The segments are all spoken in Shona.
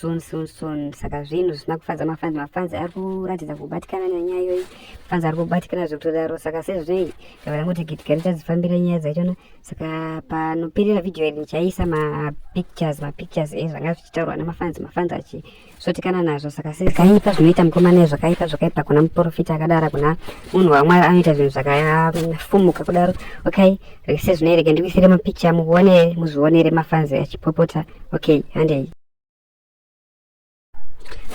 soon soon soon saka zvinhu zvisina kufadza mafanzi mafanzi ari kuratidza kubatikana nenyaya iyoyi mafanzi ari kubatikana zvekutodaro saka sezvinei ndava ndangoti gitika richadzifambira nyaya dzachona saka panoperera vhidhiyo iri ndichaisa mapictures mapictures ezvanga zvichitaurwa nemafanzi mafanzi achisotikana nazvo saka sezvakaipa zvinoita mukomana ezvakaipa zvakaipa kuna muprofita akadara kuna munhu wamwari anoita zvinhu zvakafumuka kudaro okay rese zvinoere ke ndikuisire mapicha muone muzvionere mafanzi achipopota okay handei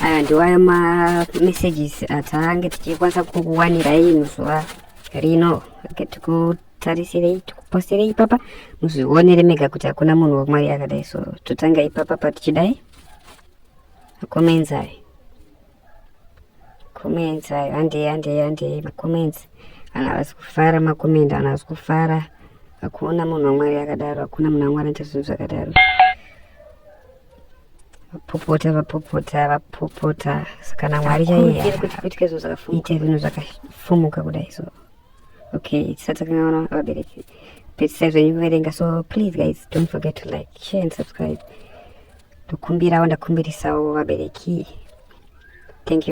aya ndiwayo mamessages atange tichikwanisa kukuwanirai muzuva rino okay, tikutarisirei tikupostirei ipapa muzvionere mega kuti hakuna munhu wamwari akadai so totanga ipapa patichidai akomenzai comments ayo handei handei handei macomments vanhu havasi kufara macommenti vanhu havasi kufara hakuna munhu wamwari akadaro hakuna munhu wamwari anoita zvinhu zvakadaro vapopota vapopota vapopota sakana mwari chaiyeite zvinhu zvakafumuka kudai so okay tisati takangaona vabereki pedzisai zvenyu kuverenga so please guys don't forget to like share and subscribe ndokumbirawo ndakumbirisawo vabereki thank you